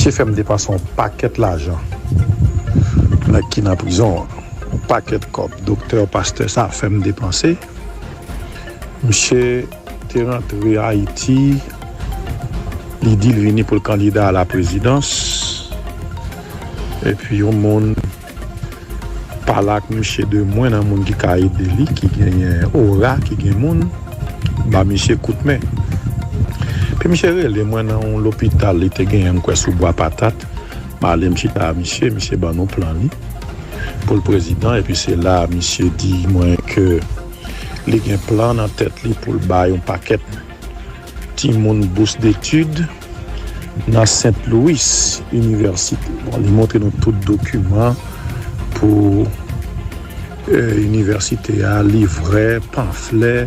Misye fèm depanse yon pakèt lajan nèg ki nan prizon an yon pakèt kòb doktè pastè sa fèm depanse misye te rantre ayiti li dil vini poul kandida a la prezidans epi yon moun. Pale ak misye de mwen nan moun ki ka ede li ki genyen ora ki gen moun ba misye kout men epi misye rele mwen nan yon lopital li te genyen m kwè sou bwa patat m ale m chita a misye misye ban nou plan li pou l prezidan epi se la misye di mwen ke li gen plan nan tèt li pou l bay yon pakèt Timoun bous detid nan Sent Louis inivèsite. Bon li montre nou tout dokiman pou inivèsite a, livrè, panflè,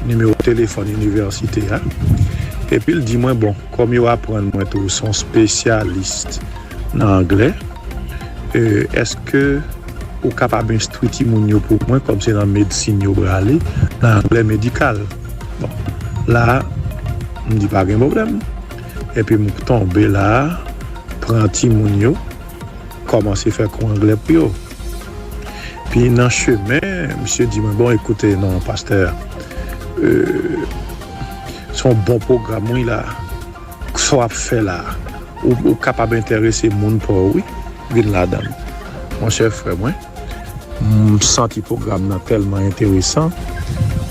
nimewo telefòn inivèsite a. Epi l di mwen bon kòm yo aprann mwen tou se yon spesyalis nan anglè, èske ou kapab enstwi timoun yo pou mwen kòm se nan medsin yo prale, nan anglè medikal. Bon, la, m di pa gen pwoblèm. Epi m tonbe la, pran timoun yo, kòmanse fè kou anglè pou yo. Pi nan chemen, misye di mwen, bon, ekoute non, pastè, se yon bon pwogram wi la, sa w ap fè la, ou kapab enterese moun pa w wi, vin ladan l, monchè frè mwen. M santi pwogram nan tèlman enteresan.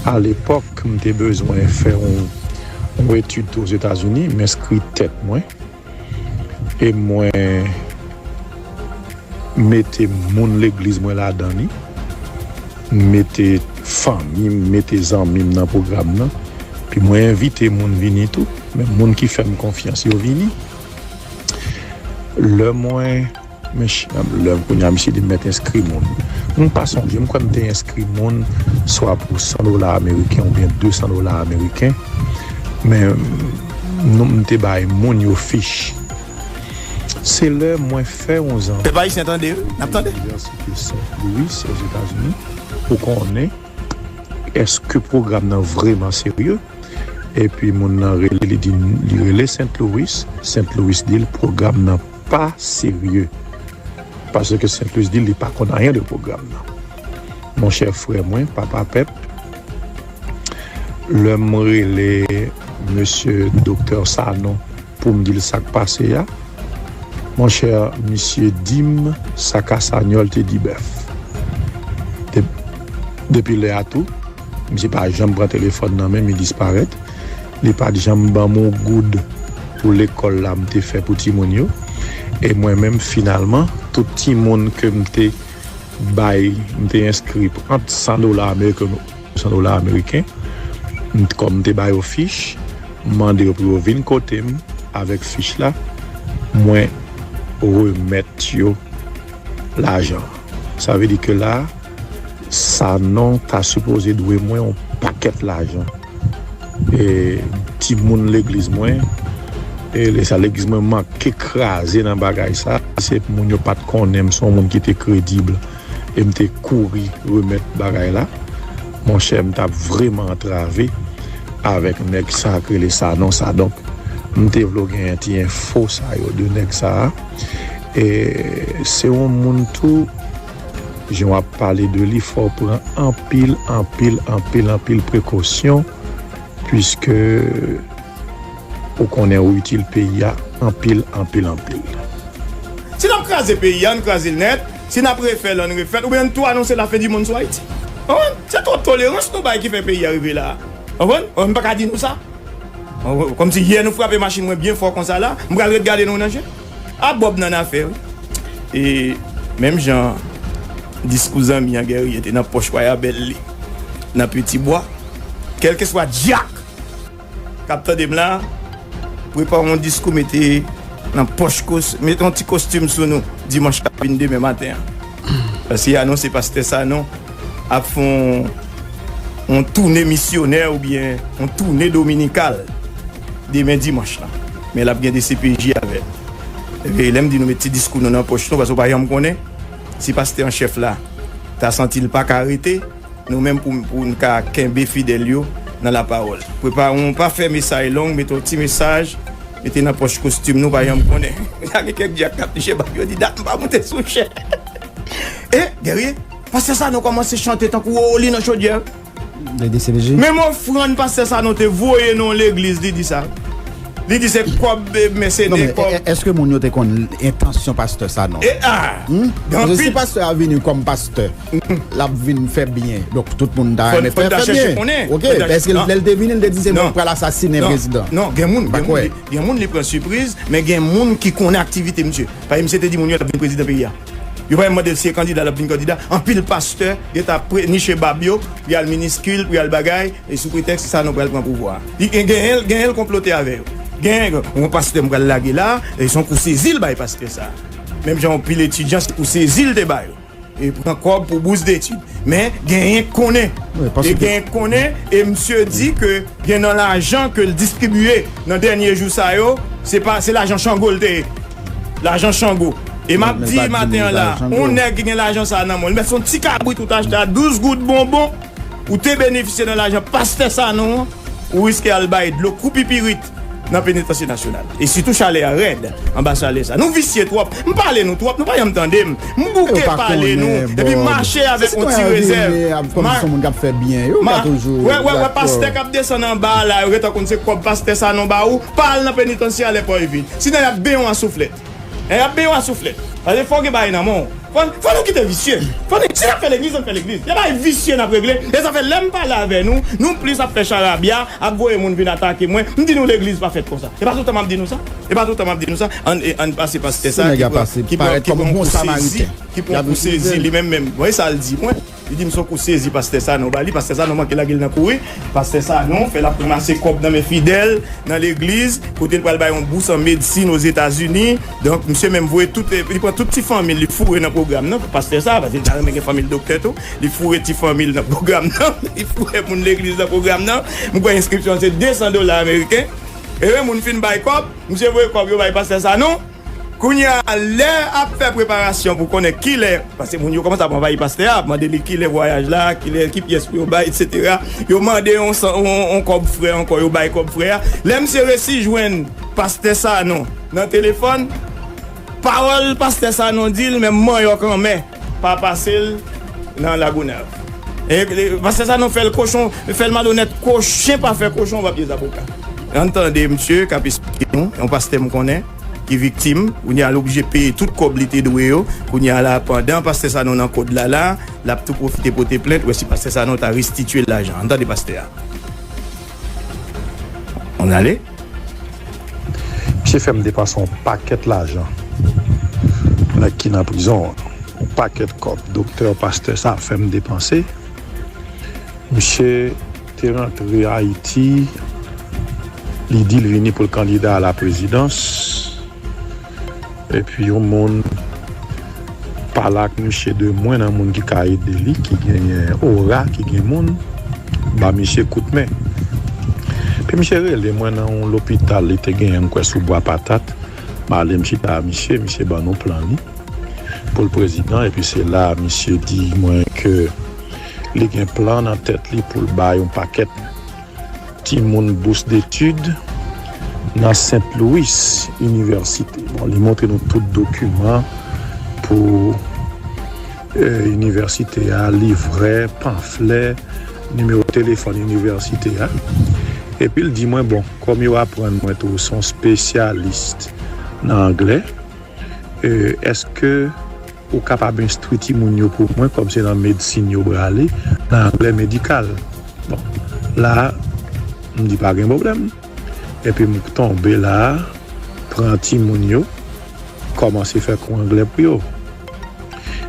A lepòk, m te bezwen fè yon etid tou Ozetazini, m enskri tèt mwen e mwen mete moun legliz mwen ladan li. M mete fanmi m, m mete zanmi m nan pwogram nan. Epi mwen envite moun vini tou, men moun ki fè m konfyans yo vini. Lè mwen. Men chanm lèm kounya misye di mèt enskri moun. M pa sonje, m kwè m te enskri moun swa pou 100 dola ameriken oubyen 200 dola ameriken. Men non m te bay moun yo fich. Se lè mwen fè yon zanmi Pèp Ayisyen tande, n ap tande. Nan inivèsite Sent Louis Ozetazini pou konnen eske pwogram nan vreman serye. Epi moun nan rele li di li rele Sent Louis, Sent Louis di l pwogram nan. pa serye paske Saint Louis di li pa konn anyen de pwogram nan mon chè frè mwen papa pèp lè m rele mesye doktè Sanon pou m di l sa k pase a mon chè misye di m sa Casagnol te di bèf depi lè a tou misye pa janm pran telefòn nan men m li disparèt Li pa t janm ban m yon goud pou lekòl la m te fè pou timoun yo. E mwen menm finalman, tout timoun ke m te bay, m te enskri pou ant san dola ameriken ou san dola ameriken. M t kòm m te ba yo fich, m mande yo pou yo vin kote m avèk fich la, mwen remèt yo lajan an. Sa vle di ke la. Sanon ta sipoze dwe mwen yon pakèt lajan e timoun legliz mwen e lesa legliz mwen manke kraze nan bagay sa se moun yo pat konnen m son moun ki te kredib e m te kouri remèt bagay la monchè m tap vreman antrave avèk nèg sa k rele Sanon sa donk m te vle w genyen ti enfo sa yo de nèg sa e se yon moun tou. Jan wap pale de li fòw pran anpil anpil anpil anpil prekosyon pwiske ou konnen ou itil peyi a anpil anpil anpil. Si nap kraze peyi an krazel nèt, si nap refèl ann refèl oubyen ann tou anonse la fen di monn sou Ayiti. Konprann? Se twòp tolerans nou bay ki fè peyi a rive la a. Konprann? Mwen paka di nou sa. Konprann? Kòmsi yè nou frape machin mwen byen fò konsa la, m pral ret gade nou nan je? Ah Bob nan afè wi. E menm jan diskou zanmi an Guerrier te nan pòch wayabèl li nan Peti Bwa, kèlkeswa dyak k ap tande m la, prepare yon diskou mete nan pòch kos, mete yon ti kostim sou nou dimanch k ap vin demen maten an. Paske y anonse pastè Sanon ap fè yon toune misyonè oubyen yon toune dominikal. demen dimanch lan. Men lap gen dcpj avè l. Ebyen lèm di nou met ti diskou nou nan pòch nou paske ou pa janm konnen si pastè an chèf la ta santi l paka rete nou menm pou n ka kenbe fidèl yo nan lapawòl. Prepare w pa fè mesay long mete yon ti mesaj mete nan pòch kostim nou pa janm konnen ta gen kèk dyak kap niche bab yo di dat m pa moute sou chè. E Guerrier, pastè Sanon kòmanse chante tankou Wowoli nan chodyè. Menm ofrann pastè sanon te voye nan yon legliz li di sa li di se kob mèsenè kob. Eske moun yo te konn entansyon pastè sanon? Paske si pastè a vini kom pastè lap vin fè byen donk tout moun ta renmen fè byen ok eske lèl te vini li te di se mwen ki pral asasine prezidan? Non gen moun gen moun li pran sipriz men gen moun ki konnen aktivite misye paske misye te di moun yo lap vin prezidan peyi a. Yo pa menm mande l si e kandida l ap vin kandida. Anpil pastè gen tan ap pre niche bab yo pou y al miniskil, pou y al bagay, sou pretèks Sanon pral pran pouvwa a. Li gen genyen genyen l konplote avè yo. Genyen gen yon pastè m pral lage la a, se yon kou sezi l bay pastè sa a. Menm jan yon pil etidyan se kou sezi l te ba yo. E pran kòb pou bous detid. Men, genyen k konnen. E genyen k konnen e msye di ke gen nan lajan ke l distribye nan dènye jou sa yo, se pa se lajan chango l te ye. Lajan chango. E map di maten an la, on nèg ki gen lajan sa nan men l, menm si son ti kabrit ou t achte a 12 goud bonbon, ou te benefisye nan lajan pastè Sanon an, ou riske al bay dlo kou pipirit nan penitansye nasyonal. E sitou chalè a rèd anba salè sa. Nou visye twòp. M pale nou twòp, nou pa janm tande m. M bouke pale nou, epi m mache avèk on ti rezèv. Wè wè pastè kap desann anba a la, yo gentan konn se kòb pastè Sanon ba ou, pa al nan penitansye a lè pò yo vid. Si nan yap beyon a souflèt. Nan yap beyon a souflèt. Pase fòw gen bagay nan menw. Fò nou kite visye. Fò nou si nap fè legliz ann fè legliz. Gen bagay visye nap regle. E sa fè lèm pale avè nou, nou plis ap fè charabya, ap voye moun vin atake mwen, m di nou legliz pa fèt konsa. E pa toutan map di nou sa? E pa toutan map di nou sa? Ann e ann pase pastè sa ki pran ki pran ki pran yon kou sezi, ki pran yon kou sezi li menm menm. Bon e sal di mwen? Li dim son kou sezi pastè sanon bali pastè sanon manke lagel nan kouri pastè sanon fè lap ranmase kòb nan men fidèl nan legliz kotel pral bay yon bous an medsin ozetazini donk misye menm voye tout li pran tout ti fanmil li foure nan pwogram nan pastè sa paske li ta renmen gen fanmil doktè tou li foure ti fanmil nan pwogram nan li foure moun legliz nan pwogram nan m kwè enskripsyon an se 200 dola ameriken ehe moun fin bay kòb misye voye kòb yo bay pastè sanon. Kounye a, lè ap fè preparasyon pou konnen ki lè, paske moun yo kòmanse ap anvayi pastè a, ap mande li ki lè vwayaj la, ki lè, ki pyès pou yo bay, etsetera. Yo mande yon san, yon kòb frè ankò, yo bay kòb frè a. Lè misye resi jwenn pastè Sanon nan telefòn, pawòl pastè Sanon di l menm manyòk anmè. Pa pase l nan lagonav. Pase sa non fèl kochon fèl malonèt ko chen pa fè kochon pa pye zaboka. Ann tande misye kap esplike nou yon pastè m konnen ki viktim kounye a l oblije peye tout kòb li te dwe yo kounye a la pandan pastè Sanon nan kod la la lap tou pwofite pote plent wè si pastè Sanon ta restitye l lajan an tande pastè a. An ale. Misye fè m depanse yon pakèt lajan nèg ki nan prizon an. Yon pakèt kòb doktè, pastè sa fè m depanse. Misye te rantre Ayiti, li di l vini pou l kandida a la prezidans. Epi yon moun pale ak misye de mwen nan moun ki ka ede li ki genyen ora ki gen moun ba misye kout men epi misye rele mwen nan yon lopital li te genyen m kwè sou bwa patat m ale m chita a misye misye ban nou plan li pou l prezidan epi se la misye di mwen ke li gen plan nan tèt li pou l bay yon pakèt Timoun bous detid nan Sent Louis inivèsite. Bon li montre nou tout dokiman pou inivèsite a, livrè, panflè, nimewo telefòn inivèsite a. Epi l di mwen bon kòm yo aprann mwen tou son spesyalis nan anglè, èske Ou kapab enstwi timoun yo pou mwen kòm se nan medsin yo brale nan anglè medikal. Bon, la a, m di pa gen pwoblèm. Epi m tonbe la a, pran timoun yo, kòmanse fè kou anglè pou yo.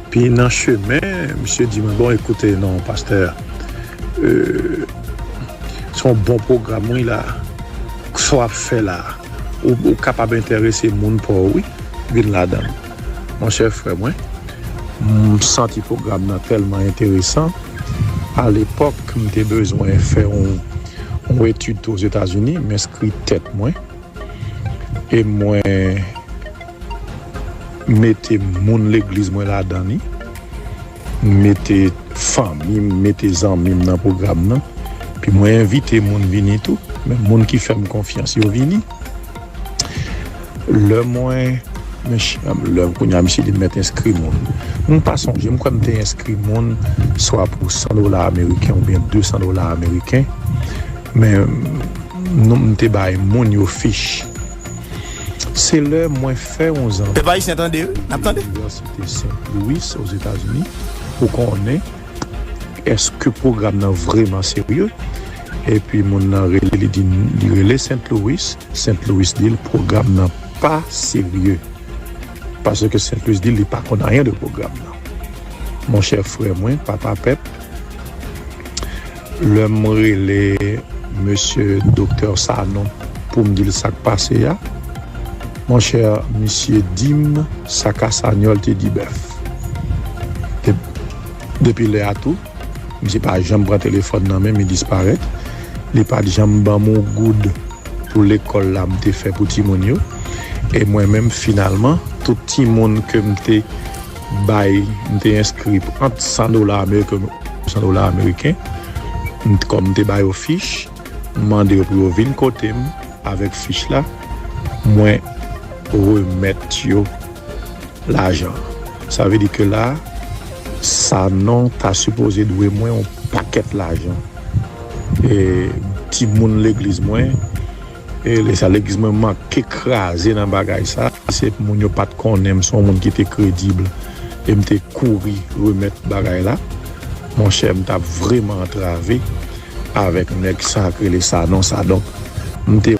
Pi nan chemen, misye di mwen, bon ekoute non pastè, se yon bon pwogram wi la a. Sa w ap fè la a, ou kapab enterese moun pa w wi vin ladan l. Monchè frè mwen, m santi pwogram nan tèlman enteresan, alepòk m te bezwen fè yon etid tou Ozetazini, m enskri tèt mwen e mwen mete moun legliz mwen ladan li, m mete fanmi m, m mete zanmi m nan pwogram nan, epi mwen envite moun vini tou, men moun ki fè m konfyans yo vini. Lè mwen Lè kounye a misye di m mèt enskri moun. M pa sonje, m kwè m te enskri moun swa pou 100 dola ameriken oubyen 200 dola ameriken. Men non m te bay moun yo fich. Se lè mwen fè yon zanmi Pèp Ayisyen tande wi, n ap tande. nan Inivèsite St. Louis, Ozetazini, pou konnen. Eske pwogram nan vreman serye? Epi moun nan rele li di li rele Sent Louis, Sent Louis di l pwogram nan pa serye. Paske Sent Louis di l li pa konn anyen de pwogram nan. Monchè frè mwen, papa pèp. Lèm rele mesye Doktè Sanon poum dil sak pase a monchè misye dim sa Casagnol te di Bèf depi lè a tou misye pa janm pran telefòn nan menm li disparèt li pat janm banm yon goud pou lekòl la mte fè pou timoun yo e mwen menm finalman tout timoun kem te bay m te enskri pou ant 100 dola ameriken ou 200 dola ameriken kòm m te ba yo fich m mande yo pou yo vin kote m avèk fich la mwen remèt yo lajan sa vle di ke la Sanon ta sipoze dwe mwen yon pakèt lajan e timoun legliz mwen. E lesa legliz mwen manke kraze nan bagay sa. Se moun yo pat konnen m son moun ki te credible e m te kouri remèt bagay la. Monchè m tap vreman antrave avèk nèg sa k rele Sanon sa donk m te.